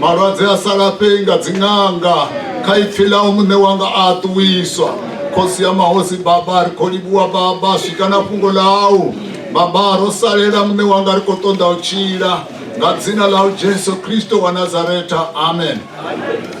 malwadze a sa lafhei nga dziṅanga kha ipfi ḽau muṋe wanga a ṱuwiswa khosi ya mahosi baba ri khou livhuwa baba swika na fhungo ḽau baba ro salela muṋe wanga ri khou ṱoḓa u tshila nga dzina ḽau jesu kristo wa nazaretha amen, amen.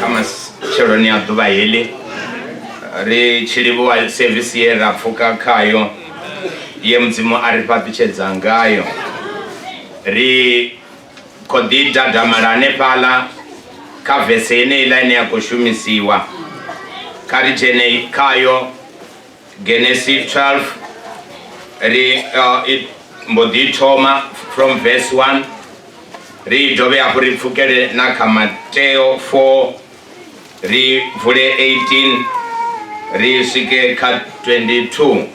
kha matsheloni a ḓuvha heḽi ri tshi livhuwa sevisi ye ra pfuka khayo ye mudzimu a ri fhaṱutshedza ngayo ri khou ḓi dadamala hanefhaḽa kha vese yeneiḽa ine ya khou shumisiwa kha ri dzhene khayo genesis 12 ri uh, it mbo ḓi thoma from verse 1 ri dovhe hafhu ri pfukele na kha mateo 4 ri vule 18 ri swike kha 22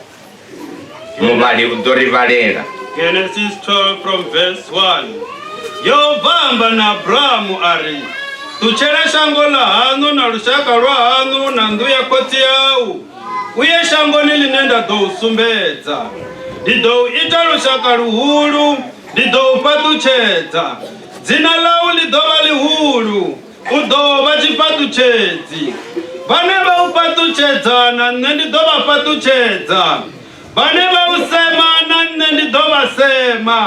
muvhali u ḓo ri vhalela genesis 12 from verse 1 yehova amba na abrahamu a ri ṱutshela shango ḽa haṋu na lushaka lwa haṋu na nnḓu ya khotsi yau u ye shangoni ḽine nda ḓo u sumbedza ndi ḓo u ita lushaka luhulu ndi ḓo u fhaṱutshedza dzina ḽau ḽi ḓo vha ḽihulu u ḓo vha tshifhaṱutshedzi vhane vha u fhaṱutshedza na nṋe ndi ḓo vha fhaṱutshedza vhane vha u sema na nṋe ndi ḓo vha sema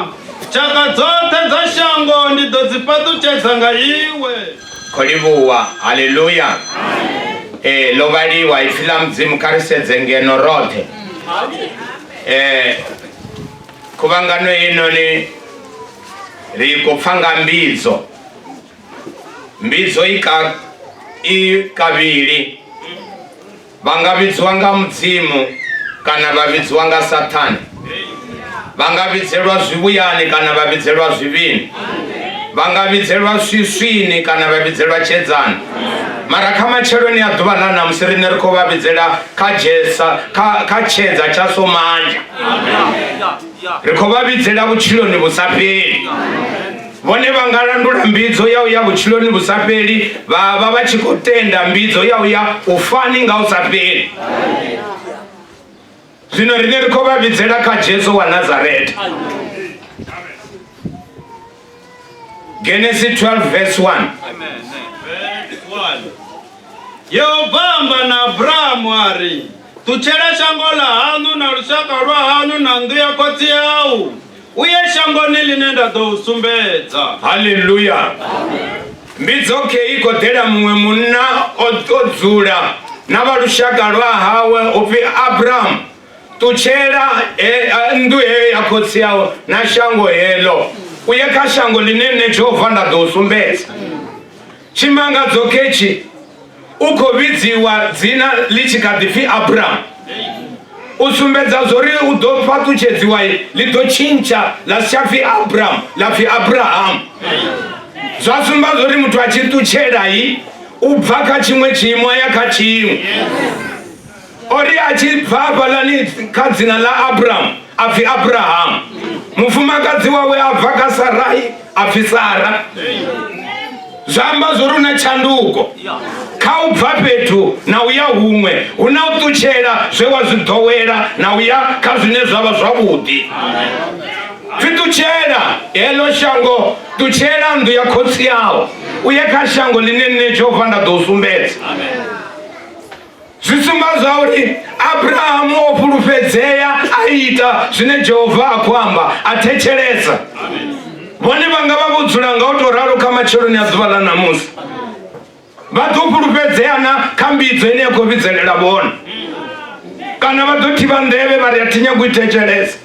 tshaka dzoṱhe dza shango ndi ḓo dzi fhaṱutshedza nga iwe khou livhuwa haleluya ee ḽo vhaliwa ipfi ḽa mudzimu kha ri sedze ngeno roṱhe ee khuvhangano heinoni ri khou pfa nga mbidzo mbidzo i kavhili Vha nga vhidzwa nga Mudzimu kana vha vhidzwa nga Sathane. Vha nga vhidzelwa zwivhuyani kana vha vhidzelwa zwivhini. Vha nga vhidzelwa swiswini kana vha vhidzelwa tshedzani. Mara kha matsheloni a ḓuvha ḽa ṋamusi riṋe ri khou vha vhidzela kha Jesa kha kha tshedza tsha Somanja. Ri khou vha vhidzela vhutshiloni vhu sa fheli. Vhone vha nga landula mbidzo ya u ya vhutshiloni vhu sa fheli vha vha vha tshi khou tenda mbidzo ya u ya u fani nga u sa fheli. Zwino riṋe ri khou vha vhidzela kha Jesu wa Nazareta. Genesis 12 verse 1. Amen. Verse 1. Yehova amba na Abrahamu a ri, Ṱutshela shango ḽa haṋu na lushaka lwa haṋu na nnḓu ya khotsi yau. U ye shangoni ḽine nda ḓo u sumbedza. Haleluya! Mbidzokhei i khou ḓela muṅwe munna o dzula na vha lushaka lwa hawe u pfi Abramu. Ṱutshela nnḓu heyo ya khotsi yau na shango heḽo, u ye kha shango ḽine nṋe Jehova nda ḓo u sumbedza. Tshimangadzo ketshi u khou vhidziwa dzina ḽi tshi kha ḓi pfi Abramu. U sumbedza zwori u ḓo fhaṱutshedziwa ḽi ḓo tshintsha ḽa si tsha pfi Abramu ḽa pfi Abrahamu. Zwa sumba zwori muthu a tshi ṱutshela u bva kha tshiṅwe tshiimo a ya kha tshiṅwe. o ri a tshi bva hafhaḽani kha dzina ḽa abrahamu a pfhi abrahamu mufumakadzi wawe a bva kha sarai a pfhi sara zwa amba zwo ri na tshanduko kha u bva fhethu na u ya huṅwe hu na u ṱutshela zwe wa zwi ḓowela na u ya kha zwine zwa vha zwavhuḓi zwi ṱutshela heḽo shango ṱutshela nnḓu ya khotsi yawo u ye kha shango ḽine nṋe jehova nda ḓo u sumbedza Zwi sumba zwauri Abrahamu o fhulufhedzea, a ita zwine Jehova a khou amba, a thetshelesa. Vhone vha nga vha vho dzula nga u tou ralo kha matsheloni a ḓuvha ḽa ṋamusi. Vha ḓo fhulufhedzea na kha mbidzo ine ya khou vhidzelela vhone. Kana vha ḓo thivha nḓevhe vha ri a thi nyagi u i thetshelesa.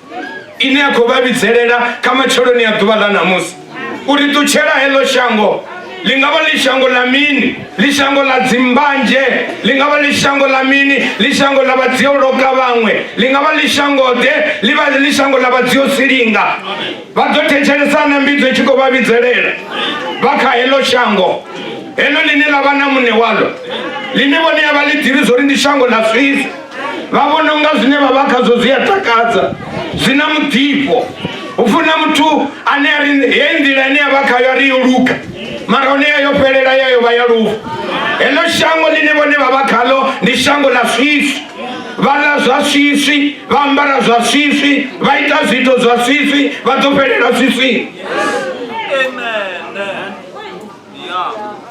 ine ya khou vha vhidzelela kha matsheloni ya ḓuvha ḽa ṋamusi uri ṱutshela heḽo shango ḽi nga vha ḽi shango ḽa mini ḽi shango ḽa dzimbanzhe ḽi nga vha ḽi shango ḽa mini ḽi shango ḽa vhadzioloka vhaṅwe ḽi nga vha ḽi shangoḓe ḽi vha ḽi shango ḽa vhadziosilinga vha ḓo thetshelesa na mbidzo i tshi khou vha vhidzelela vha kha heḽo shango heḽo ḽine ḽa vha na muṋe waḽo ḽine vhone ya vha ḽi ḓivhi zwo ri ndi shango ḽa swisi vha vhona unga zwine vha vha khazwo zwi a takadza zwi na muḓifho u funa muthu ane a ri heyi nḓila ine ya vha khayo a ri yo luga mara hone ya yo fhelela ya yo vha ya lufu heḽo shango ḽine vhone vha vha khaḽo ndi shango ḽa swiswi vha ḽa zwa swiswi vha ambara zwa swiswi vha ita zwiito zwa swiswi vha ḓo fhelela swiswini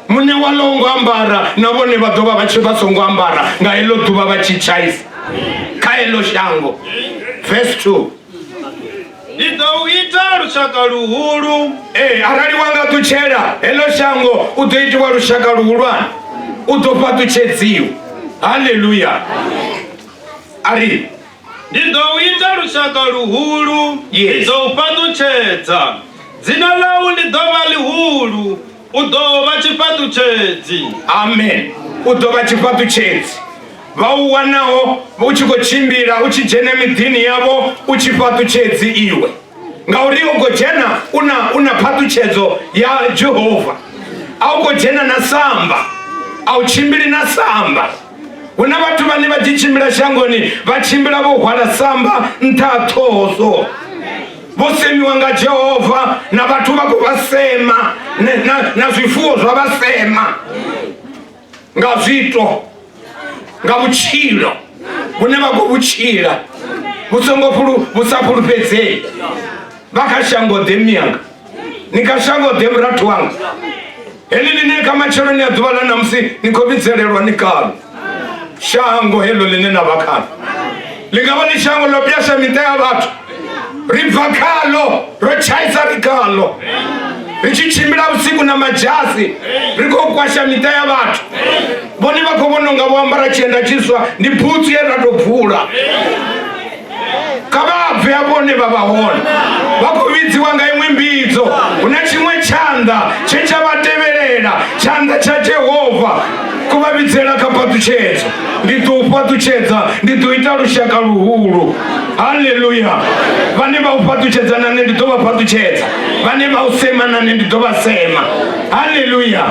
muṋe wa ḽo ngo ambara na vhone vha ḓo vha vha tshi vha songo ambara nga heḽo ḓuvha vha tshi tshaisa kha heḽo shango verse 2 ndi ḓo u ita lushaka luhulu ee eh, arali wa nga ṱutshela heḽo shango u ḓo itiwa lushaka luhulwane u ḓo fhaṱutshedziwa halleluya a ri Ndi ḓo u ita lushaka luhulu, Yes. ndi ḓo u fhaṱutshedza. Dzina ḽau ḽi ḓo vha ḽihulu, u ḓo vha tshifhaṱutshedzi. amen u ḓo vha tshifhaṱutshedzi vha u wanaho u tshi khou tshimbila u tshi dzhena miḓini yavho u tshifhaṱutshedzi iwe ngauri u khou dzhena u na u na phaṱutshedzo ya jehova a u khou dzhena na samba a u tshimbili na samba hu na vhathu vhane vha tshi tshimbila shangoni vha tshimbila vho hwala samba nṱha ha ṱhoho so vho semiwa nga jehova na vhathu vha khou vha sema na- na- na zwifuwo zwa vha sema nga zwiito nga vhutshilo vhune vha khou vhutshila vhu songo fhulu- vhu sa fhulufhedzei vha kha shango ḓe miyanga ni kha shango ḓe murathu wanga heḽi ḽine kha matsheloni a ḓuvha ḽa namusi ni khou vhidzelelwa ni kalo shango heḽo ḽine na vha khalo ḽi nga vha ḽi shango ḽo pyasha miṱa ya vhathu ri bva khalo ro tshaisa ri khalo ri tshi tshimbila vhusiku na madzhasi ri khou kwasha miṱa ya vhathu vhone vha khou vhona unga vho ambara tshienda tshiswa ndi butsu ye ra tou bvula kha vha bve hafho hune vha vha hone vha khou vhidziwa nga iṅwe mbidzo hu na tshiṅwe tshanḓa tshe tsha vha tevhelela tshanḓa tsha jehova ku vha vhidzela kha fhaṱutshedzo ndi ḓo u fhaṱutshedza ndi ḓo ita lushaka luhulu haleluya vhane vha u fhaṱutshedza na nṋe ndi ḓo vha fhaṱutshedza vhane vha u sema na nṋe ndi ḓo vha sema haleluya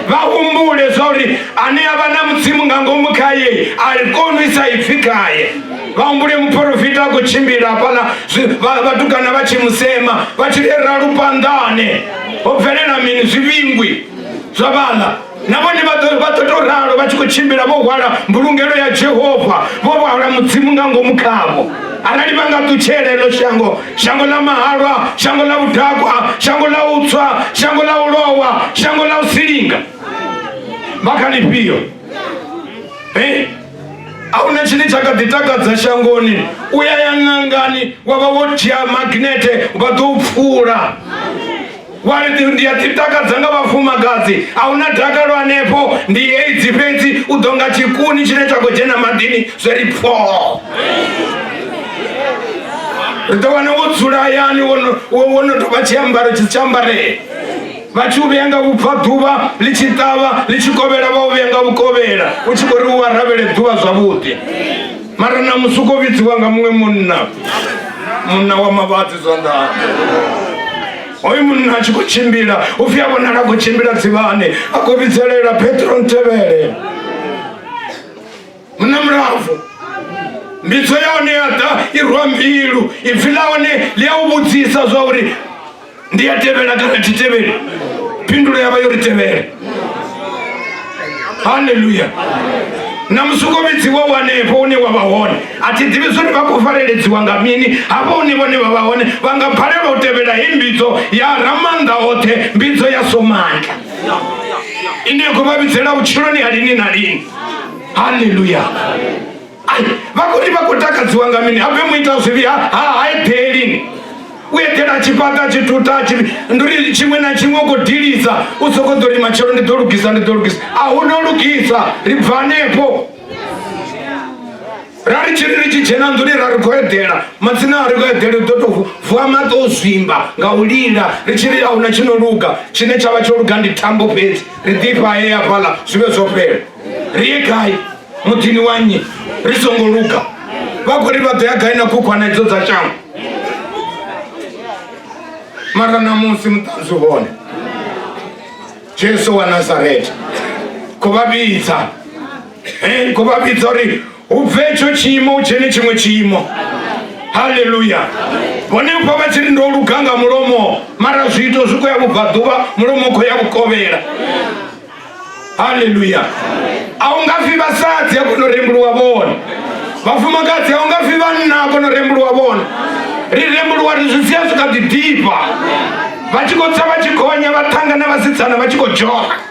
vha humbule zwa uri ane a vha na mudzimu nga ngomu khaye a koni u isa ipfhi khaye vha humbule muporofita a khou tshimbila hafhaḽa vhatukana vha tshi musema vha tshi rera lupanḓane ho bvelela mini zwivhingwi zwa vhaḽa na vhone vha ḓo tou ralo vha tshi khou tshimbila vho hwala mbulungelo ya jehova vho hwala mudzimu nga ngomu khavho arali vha nga ṱutshela elo shango shango ḽa mahalwa shango ḽa vhudakwa shango ḽa u tswa shango ḽa u lowa shango ḽa u silinga vha kha lifhio a huna tshine tsha kha ḓi takadza shangoni u ya ya ṅangani wa vha wo dzhia magnete vha ḓo u pfula wari ndi a ḓitakadza nga vhafumakadzi a hu na dakalo hanefho ndi aids fhedzi u ḓo nga tshikuni tshine tsha khou dzhena maḓini zwe ri pfoo ri ḓo wana wo dzula hayani wo no tou vha tshiambaro tshiambarele vha tshi u vhea nga vhubvaḓuvha ḽi tshi ṱavha ḽi tshi kovhela vha u vhea nga vhukovhela u tshi khou ri u aravhele ḓuvha zwavhuḓi mara na musi u khou vhidziwa nga muṅwe munna munna wa mavhadzi zwanḓani hoyu munna a tshi khou tshimbila u pfhi a vhonala a khou tshimbila dzivhane a khou vhidzelela petro ntevhele hu na mulambo mbidzo ya hone ya ḓa i rwa mbilu ipfi ḽa hone ḽi a u vhudzisa zwa uri ndi a tevhela kana thi tevheli phindulo ya vha yo ri tevhela halleluya na musukovhidzi wa wanefho une wa vha hone a thi ḓivhi zwori vha khou fareledziwa nga mini hafho hune vhone vha vha hone vha nga balelwa u tevhela he mbidzo ya ramannḓa oṱhe mbidzo ya somandla ine ya khou vha vhidzela vhutshiloni ha lini na lini haleluya Ai, vakuti vakutakadziwa nga mini habe muita zvivi ha- ha- haiphelini u eḓela a tshi fhaṱa a tshi tuta a tshi ndi uri tshiṅwe na tshiṅwe u khou dilisa u soko ḓo ri matshelo ndi ḓo lugisa ndi ḓo lugisa a hu no lugisa ri bva hanefho ra ri tshiri ri tshi dzhena nḓuni ra ri khou eḓela madzina a ri khou eḓela u ḓo tou vuwa maṱo o zwimba nga u lila ri tshi ri a huna tshi no luga tshine tsha vha tsho luga ndi thambo fhedzi ri ḓifha he ya fhaḽa zwi vhe zwo fhela ri ye gai muḓini wa nnyi ri songo luga vha khou ri vha ḓo ya gai na khukhwana idzo dza shango mara namusi muṱanzi hone jesu wa nazareta khou vha vhidza Amen. Ku vha vhidza uri u bve etsho tshiimo u dzhene tshiṅwe tshiimo. Haleluya. Vhone u vha vha tshi ri ndo luga nga mulomo mara zwiito zwi khou ya vhubvaḓuvha mulomo u khou ya vhukovhela. Haleluya. A u nga fi vhasadzi a kono rembuluwa vhone. Vhafumakadzi a u nga fi vhanna a kono rembuluwa vhone. Ri rembuluwa ri zwi sia zwi kha ḓi ḓifha. Vha tshi khou tsa vha tshi gonya vha ṱhangana vhasidzana vha tshi khou dzhoga.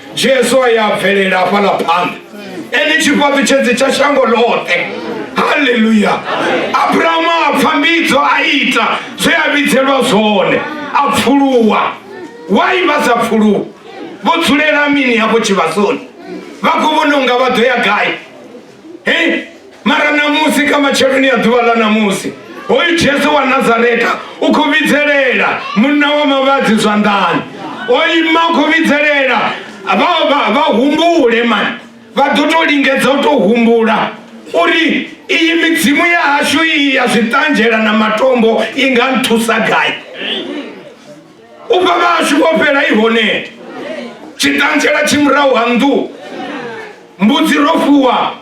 jesu a ya bvelela hafhaḽa phanḓa ene tshifhaṱutshedzi tsha shango ḽoṱhe haleluya abrahamu a pfa mbidzo a ita zwe a vhidzelwa zwone a pfuluwa wai vha sa pfuluwa vho dzulela mini hafho tshivhasoni vha khou vhona unga vha ḓo ya gai Hey, mara namusi kha matsheloni a ḓuvha ḽa namusi hoyu jesu wa nazareta u khou vhidzelela munna wa mavhadzi zwanḓani o ima u khou vhidzelela vha humbule mani vha ḓo tou lingedza u tou humbula uri iyi midzimu ya hashu iyi ya zwiṱanzhela na matombo i nga nthusa gai u bva vhashu vho fhela i hone tshiṱantshela tshi murahu ha nnḓu mbudzi ro fuwa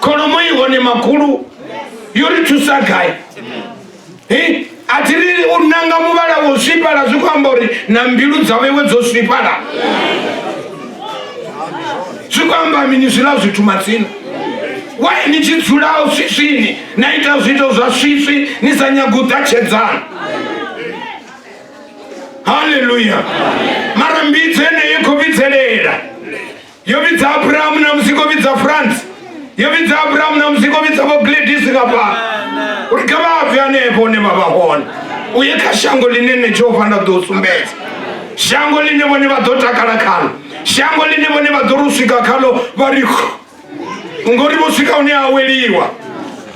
kholomo i hone makhulu yo ri thusa gai a thi ri u nanga muvhala wo swifhala zwi khou amba uri na mbilu dza vhewe dzo swifhala zwi khou amba mini zwiḽa zwithu matsina wai ni tshi dzulao swiswini na ita zwiito zwa swiswi ni sa nyaga u ṱatshedzana haleluya mara mbidzo yeneyo i khou vhidzelela yo vhidza abrahamu na musi khou vhidza france yo vhidza abrahamu na musi khou vhidza vho gladis nga fhano uri kha vha bve hanefho hune vha vha hone u ye kha shango ḽine nṋe jehova nda ḓo u sumbedza shango ḽine vhone vha ḓo takala khalo shango ḽine vhone vha ḓo ri u swika khalo vha ri ngori vho swika hune aweliwa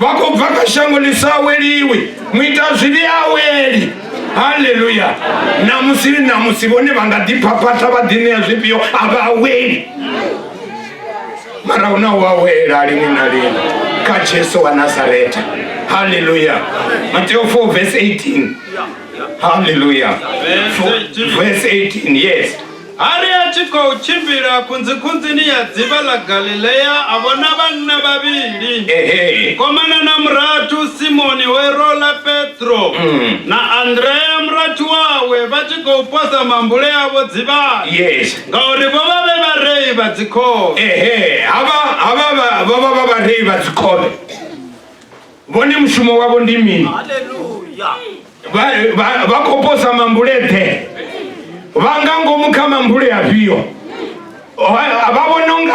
vha khou bva kha shango ḽi sa aweliwi muita zwivhi aweli haleluya namusi namusi vhone vha nga ḓiphaphatha vha ḓi ṋea zwifhio a vha aweli mara hu na u awela lini na lini kha jesu wa nazareta haleluya mateo 4 vs 18 haleluya vs 18 yes A ri a tshi khou tshimbila khunzikhunzini ya dzivha ḽa Galilea, a vhona vhanna vhavhili, Ehe. mukomana na murathu Simoni we ro ḽa Petro, na Andrea murathu wawe, vha tshi khou posa mambule avho dzivhani, Yes. ngauri vho vha vhe vharei vha dzikhovhe. Ehe, havha havha vha- vho vha vha vharei vha dzikhovhe. vhone mushumo wavho ndi mini vha khou posa mambule ḓe vha nga ngomu kha mambule afhio vha vhona unga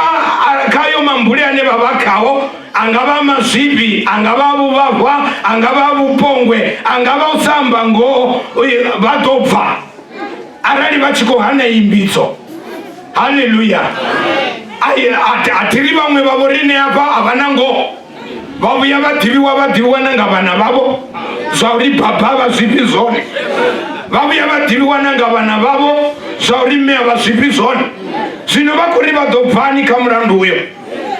khayo mambule ane vha vha khao angavha mazwifhi angavha vhuvhahwa angavha vhupongwe angavha u sa amba ngoho vha ḓo bva arali vha tshi khou hana imbidzo halleluya a thiri vhaṅwe vha vho rine afha a vha na ngoho vha vhuya vha ḓivhiwa vha ḓivhiwa na nga vhana vhavho zwa uri baba vha zwifhi zwone vha vhuya vha ḓivhiwa na nga vhana vhavho zwa uri mme a vha zwifhi zwone zwino vha khou ri vha ḓo bvani kha mulandu uyo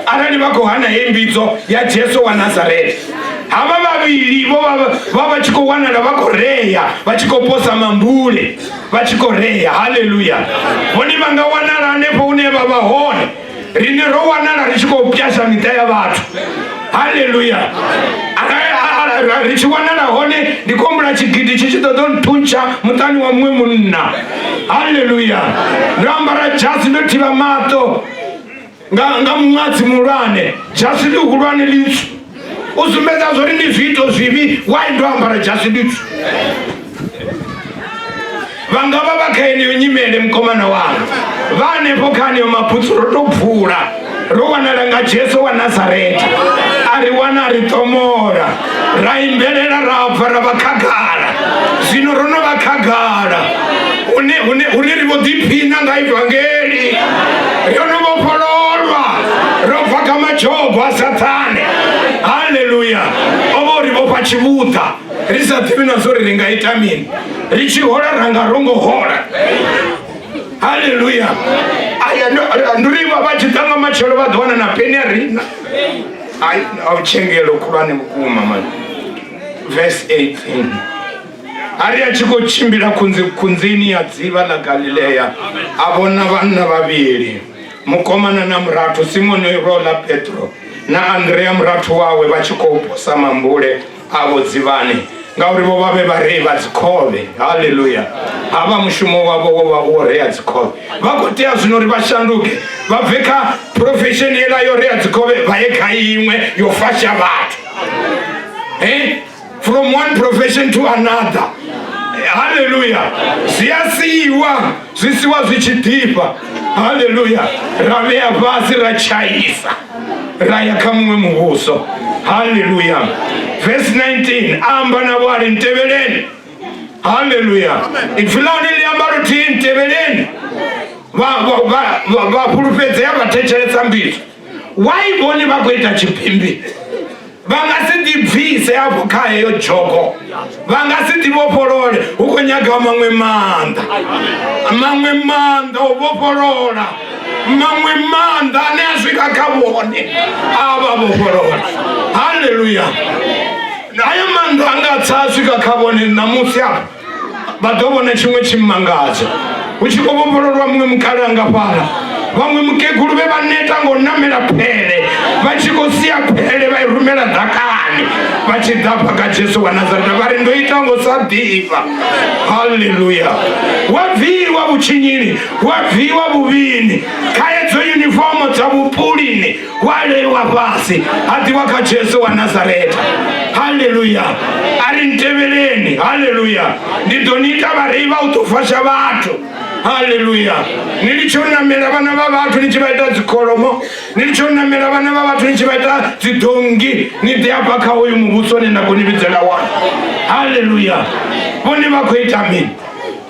arali vha khou hana he mbidzo ya jesu wa nazareta havha vhavhili vho vha vha tshi khou wanala vha khou rea vha tshi khou posa mambule vha tshi khou rea haleluya hone vha nga wanala hanefho hune vha vha hone rine ro wanala ri tshi khou pyasha miṱa ya vhathu halleluya ri tshi wanala hone ndi khou humbula tshigidi tshi tshi ṱoḓa nthuntsha muṱani wa muṅwe munna halleluya ndo ambara dzhasi ndo thivha maṱo nga muṅwadzi muhulwane dzhasi ḽihulwane litswu u sumbedza zwo ri ndi zwiito zwivhi why ndo ambara dzhasi nditswu vha nga vha vha kha yeneyo nyimele mukomana wanga vha hanefho kha aneyo mabutsu ro to bvula ro wanala nga jesu wa nazareta a ri wana a ri ṱomola ra imbelela ra bva ra vha khagala zwino ro no vha khagala hune hune hune ri vho ḓiphina nga ivangeli ro no vhofhololwa ro bva kha madzhogo a sathana vhulwane haleluya o vha uri vhofha tshivhuḓa ri sa ḓivhi na zwo ri ri nga ita mini ri tshi hola ra nga ro ngo hola haleluya aya ndi uri vha tshi ḓa nga matshelo vha ḓo wana na peni a rina ai a u tshengelo khulwane vhukuma mani verse 18 ari a tshi khou tshimbila khunzi khunzini ya dzivha ḽa galileya a vhona vhanna vhavhili Mukomana na murathu Simoni lwo ḽa Petro na Andrea murathu wawe vha tshi khou posa mambule avho dzivhani, ngauri vho vha vhe vharei vha dzikhovhe. Haleluya! Havha mushumo wavho wo vha u wo rea dzikhovhe. Vha khou tea zwino uri vha shanduke vha bve kha phurofesheni yeḽa yo rea dzikhovhe vha ye kha iṅwe yo fasha vhathu. He? from one profession to another haleluya zwi a siiwa zwi siwa zwi tshi ḓifha haleluya ra vhea fhasi ra tshaisa ra ya kha muṅwe muvhuso haleluya vesi 19 amba navho a ri ntevheleni haleluya ipfi ḽa hone ḽi amba luthihi ntevheleni vha fhulufhedzea vha thetshelesa mbidzo why vhone vha khou ita tshipimbi vha nga si ḓibvise afho kha heyo dzhogo vha nga si ḓivhofholole hu khou nyagaho maṅwe maanḓa maṅwe maanḓa o vhofholola maṅwe maanḓa ane a swika kha vhone a vha vhofholola halleluya hayo maanḓa a nga tsa a swika kha vhone ṋamusi afho vha ḓo vhona tshiṅwe tshimangadzo hu tshi khou vhofhololwa muṅwe mukale anga fhala vhaṅwe mukegulu vhe vha neta ngo namela phele vha tshi khou sia phele vha i rumela ḓakani vha tshi ḓa pha kha jesu wa nazareta vha ri ndo ita ngo sa ḓifha halleluya wa bviwa vhutshinyini wa bviwa vhuvhini khaedzo yunifomo dza vhupulini waleiwa fhasi ha ḓiwa kha jesu wa nazareta haleluya a ri ntevheleni haleluya ndi ḓo ni ita vharei vha u ṱofasha vhathu haleluya ni litshe u namela vhana vha vhathu ni tshi vha ita dzikholomo ni litshe u namela vhana vha vhathu ni tshi vha ita dzidongi ni ḓi afha kha hoyu muvhuso ni nda khou ni vhidzela wone haleluya vhone vha khou ita mini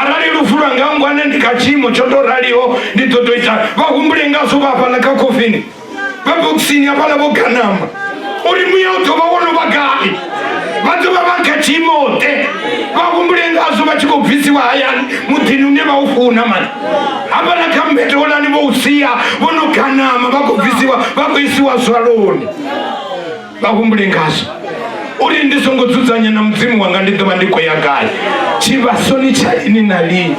arali lufu lwa nga ngwane ndi kha tshiimo tsho to raliho ndi ḓo to ita vha humbule ngazwo vha hafhaḽa kha khofini vha bokisini hafhaḽa vho ganama uri muya u ḓovha wo no vha gai vha ḓovha vha kha tshiimote vha humbule ngazwo vha tshi khou bvisiwa hayani muḓini une vha u funa mani hafhaḽa kha mbete holani vho u sia vho no ganama vha khou bvisiwa vha khou isiwa zwaloni vha humbule ngazwo uri ndi songo dzudzanya na mudzimu wanga ndi ḓo vha ndi khou ya gai tshivhasoni tsha lini na lini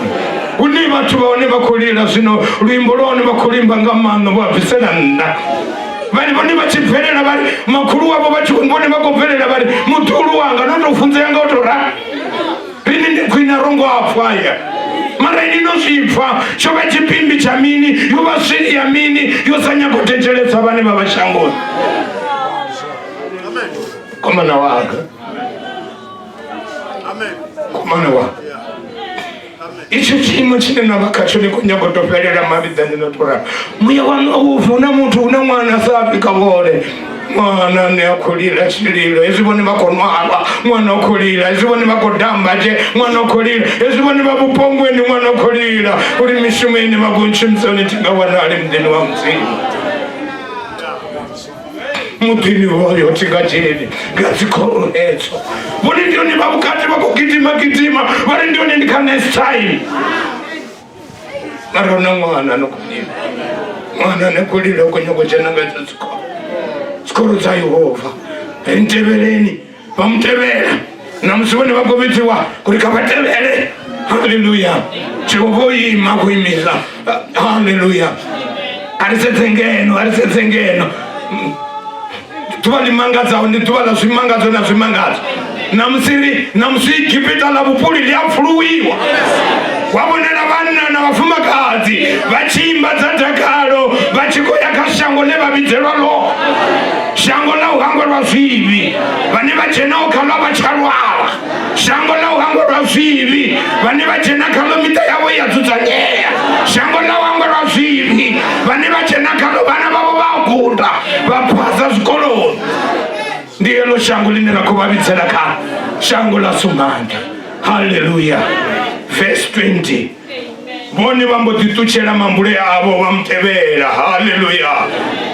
hune vhathu vha hone vha khou lila zwino luimbo lwa hone vha khou limba nga maanḓa vho a bvisela nnḓa vhane vhone vha tshi bvelela vhari makhulu wavho vha tshi vhone vha khou bvelela vhari muḓulu wanga no tou funzea nga u tou rali rini ndi khwine ro ngo apfwa ya mara ini no zwi pfha tsho vha tshipimbi tsha mini yo vha swili ya mini yo sa nyago thetshelesa vhane vha vha shangoni komana wanga komana wanga itsho tshiimo tshine na vha khatsho ni khou nyago to fhelela mavhiḓani no to ralo muya waṋu a u pfhi hu na muthu hu na ṅwana a sa fhi ka vhole ṅwana ne a khou lila tshililo hezwi vhone vha khou nwalwa ṅwana o khou lila hezwi vhone vha khou damba tshee ṅwana o khou lila hezwi vhone vha vhupongweni ṅwana o khou lila uri mishumo ine vha khou ntshumisoni thi nga wanali muḓini wa mudzimu muḓini hoyo thi nga dzheni nga dzikhoro hedzo vhone ndi hone vha vhukati vha khou gidima gidima vha ri ndi hone ndi kha next time mara una mwana anokulila mwana anokulila ukonyoko chanangaita zikoro zikoro dza yehova ntevheleni vamutevhela na musi vhone vha khou vhidziwa kuri kha vha tevhele haleluya jehova o ima ku imisa haleluya a ri sedze ngeno a ri sedze ngeno ḓuvha ḽi mangadzaho ndi ḓuvha ḽa zwimangadzo na zwimangadzo namusi namusi igipita ḽa vhupuli ḽi a pfuluwiwa wa vhonela vhanna na vhafumakadzi vha tshi imba dza dakalo vha tshi khou ya kha shango ḽe vha vhidzelwa ḽo shango ḽa u hangwelwa zwivhi vhane vha dzhenaho khaḽo vha tsha lwala shango ḽa u hangwa lwa zwivhi vhane vha dzhena khaḽo miṱa yavho ya dzudzanyea shango ḽa u hangwa lwa zwivhi vhane vha dzhena khaḽo vhana vhavho vha guda vha phasa zwikoloni ndi heḽo shango ḽine ra khou vha vhidzela kha shango ḽa sumbanda halleluya verse 20 vhone vha mbo ḓi ṱutshela mambule avho vha mutevhela halleluya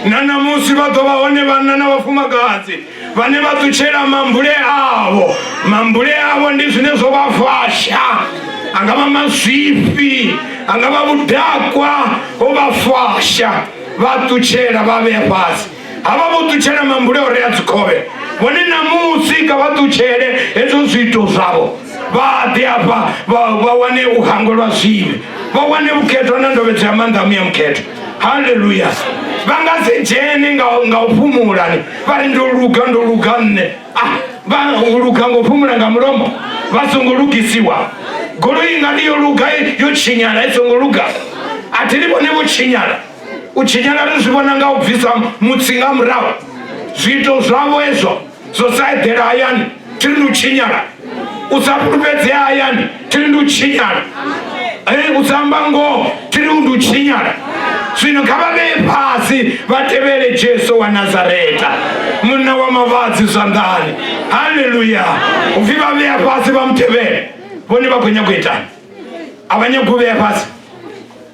na ṋamusi vha ḓo vha hone vhanna na vhafumakadzi vhane vha ṱutshela mambule avho mambule avho ndi zwine zwo vha fasha angavha mazwifhi angavha vhudakwa ho vha fasha vha ṱutshela vha vhea fhasi havha vho ṱutshela mambule o rea dzikhovhe vhone namusi kha vha ṱutshele hezwo zwiito zwavho vha ḓe afha vha wane u hangwelwa zwivhi vha wane vhukhethwa na ndovhedzo ya maanḓa a muya mukhethwa haleluya vha nga si dzhene nga nga u fhumula ni vha ri ndo luga ndo luga nṋe ah vha u luga ngo fhumula nga mulomo vha songo lugisiwa goloi nga ndi yo luga yo tshinyala i songo luga a thi li vhone vho tshinyala u tshinyala ri zwi vhona nga u bvisa mutsi nga murahu zwiito zwavho hezwo dzo sa eḓela hayani thi ri ndi u tshinyala u sa fhulufhedzea hayani thi ri ndi u tshinyala u sa amba ngoho thi ri ndi u tshinyala zwino kha vha vhee fhasi vha tevhele jesu wa nazareta munna wa mavhadzi zwanḓani halleluya u pfhi vha vhea fhasi vha mu tevhele vhone vha khou nyanga u itani a vha nyagi u vhea fhasi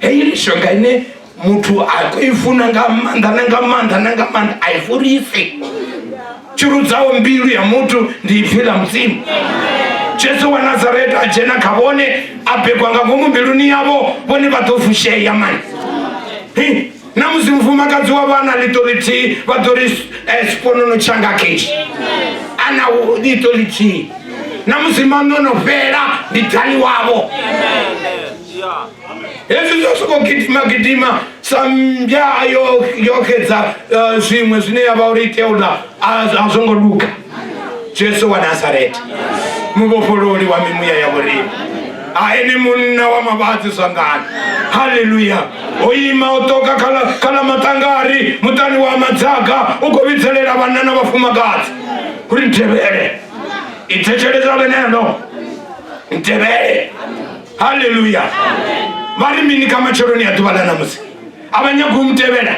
heyi mishonga ine muthu a i funa nga maanḓa na nga maanḓa na nga maanḓa a i fhulisi tshirudzaho mbilu ya muthu ndi ipfi ḽa mudzimu jesu wa nazareta a dzhena kha vhone a begwa nga ngomu mbiluni yavho vhone vha ḓo fushea mani na musi mufumakadzi wa vha na ḽiṱo ḽithihi vha ḓo ri eh, sponono tshanga keshi a na ḽiṱo ḽithihi na musi maṋono fhela ndi dali wavho hezwi zwa soko gidima gidima sa mmbya yo yo xedza eh, zwiṅwe zwine ya vha uri itea uḽa a a zwo ngo luga jesu wa nazareta muvhofhololi wa mimuya ya vhorimi a ene munna wa mavhadzi zwangani halleluya o ima o ṱoka khala khala maṱangari muṱani wa madzaga u khou vhidzelela vhanna na vhafumakadzi uri ntevhele i thetsheledza ḽeneḽo ntevhele haleluya vha ri mini kha matsheloni a ḓuvha ḽa ṋamusi a vha nyagi u mu tevhela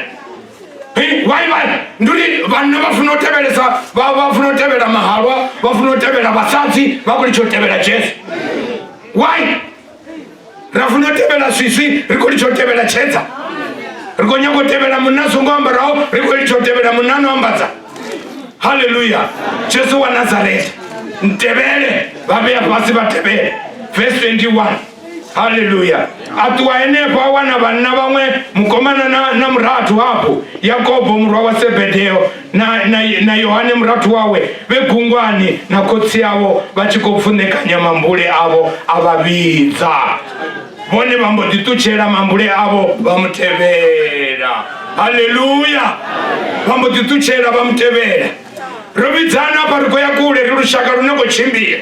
why vha ndi uri vhanna vha funa u tevhelesa vha vha funa u tevhela mahalwa vha funa u tevhela vhasadzi vha khou litsha u tevhela jesu why ra funa u tevhela swiswi ri khou litsha u tevhela tshedza ri khou nyanga u tevhela munna songo ambaraho ri khou litsha u tevhela munna no ambadza haleluya jesu wa nazareta mtevhele vha vhea fhasi vha tevhele vese 21 haleluya a ṱuwa henefho a wana vhanna vhaṅwe mukomana na, na murathu hafhu yakobo murwa wa sebedeo na, na, na yohane murathu wawe vhe gungwani na khotsi avo vha tshi khou pfunekanya mambule avo a vha vhidza vhone vha mbo ḓi ṱutshela mambule avho vha mu tevhela haleluya vha mbo ḓi ṱutshela vha mu tevhela ro vhidzana afha ri khou ya kule ri lushaka lune khou tshimbila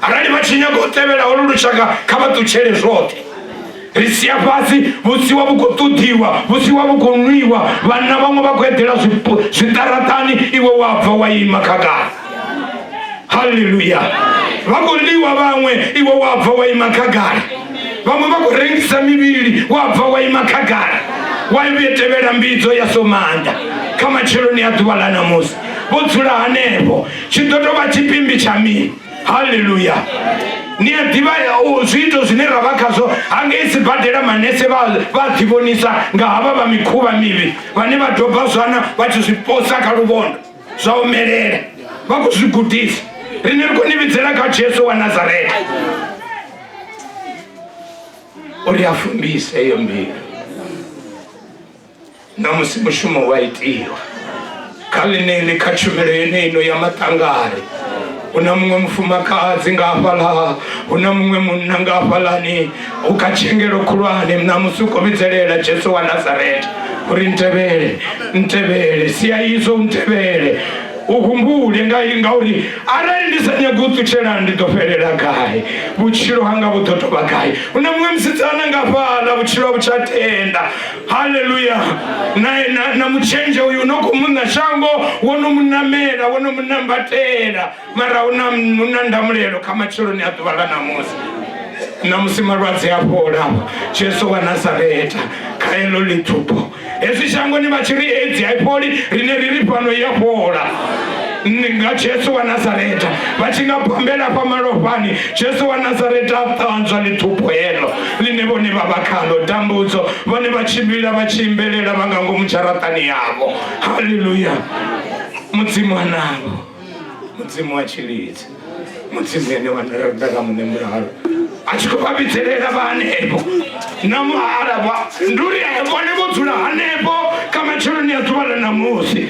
arali vha tshi nyaga u tevhela holu lushaka kha vha ṱutshele zwoṱhe ri sia fhasi vhusiwa vhu khou ṱoḓiwa vhusiwa vhu khou nwiwa vhanna vhaṅwe vha khou eḓela zwiṱaraṱani iwe wa bva wa ima khagala haleluya vha khou ḽiwa vhaṅwe iwe wa bva wa ima khagala vhaṅwe vha khou rengisa mivhili wa bva wa ima khagala wa vhuye tevhela mbidzo ya somanda kha matsheloni a ḓuvha ḽa namusi vho dzula hanefho tshi ḓo tou vha tshipimbi tsha mini haleluya ni a ḓivha zwiito zwine ra vha khazwo hangei sibadela manese vha ḓivhonisa nga havha vha mikhuvha mivhi vhane vha doba zwana vha tshi zwi posa kha luvhondo zwa omelela vha khou zwi gudisa rine ri khou ni vhidzela kha jesu wa nazareta uri a fumbise eyo mbilu na musi mushumo wa itiwa kha ḽineḽi kha tshumelo yeneino ya maṱangari hu na muṅwe mufumakadzi nga hafhaḽa hu na muṅwe munna nga hafhaḽani u kha tshengelo khulwane ṋamusi u khou vhidzelela jesu wa nazareta uri ntevhele ntevhele sia izwo u ntevhele u humbule nga ngauri arali ndi sa nyagi u ṱutshela ndi ḓo fhelela gai vhutshilo hanga vhu ḓo tovha gai hu na muṅwe musidzana nga fhaḽa vhutshilo a vhu tsha tenda haleluya na, na, na mutshenzhe uyu no khou muṋa shango wo no mu namela wo no mu nambatela mara u na u na ndamulelo kha matsheloni a ḓuvha ḽa ṋamusi ṋamusi malwadze a fhola jesu wa nazareta kha eḽo ḽiṱhupo hezwi shangoni vha tshi ri edzi a i fholi rine ri ri fhano i a fhola Ni- nga jesu wa nazareta vha tshi nga bombela fha malofhani jesu wa nazareta a ṱanzwa ḽiṱhupo heḽo ḽine vhone vha vha khaḽo, tambudzo, vhone vha tshimbila vha tshi imbelela vha nga ngomu dzharaṱani yavho. Haleluya! Mudzimu a navho, Mudzimu wa tshilidzi, Mudzimu ene wa nda nga muṋe mulalo a tshi khou vha vhidzelela vha hanefho na muhala vha ndi uri vhone vho dzula hanefho kha matsheloni a ḓuvha ḽa ṋamusi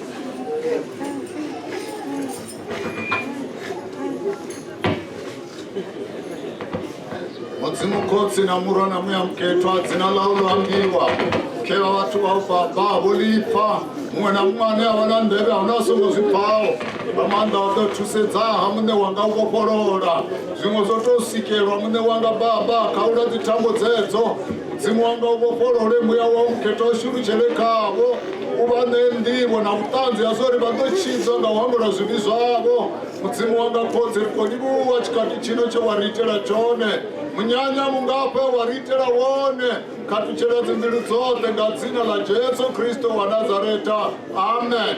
mudzimu khotsi na murwa na muya mukethwa dzina ḽau ḽo ambiwa khevha vhathu vha u baba vho lipfa muṅwe na muṅwe ane a vha na ndevhe ahuna a songo zwi pfaho nga maanḓa wa ḓo thusedza ha muṋe wanga u vhofholola zwiṅwe zwo tou sikelwa muṋe wanga baba kha u la dzithambo dzedzo mudzimu wanga u vhofholole muya wa u mukhetha u shulutshele khavho u vha ṋee nḓivho na vhuṱanzi ha zwa uri vha ḓo tshidzwa nga u hangula zwivhi zwavho mudzimu wanga khotsi ri khou livhuwa tshikhathi tshino tshe wa ri itela tshone munyanya mungafha wa ri itela wone khathutshela dzimbilu dzoṱhe nga dzina ḽa jesu kristo wa nazareta amen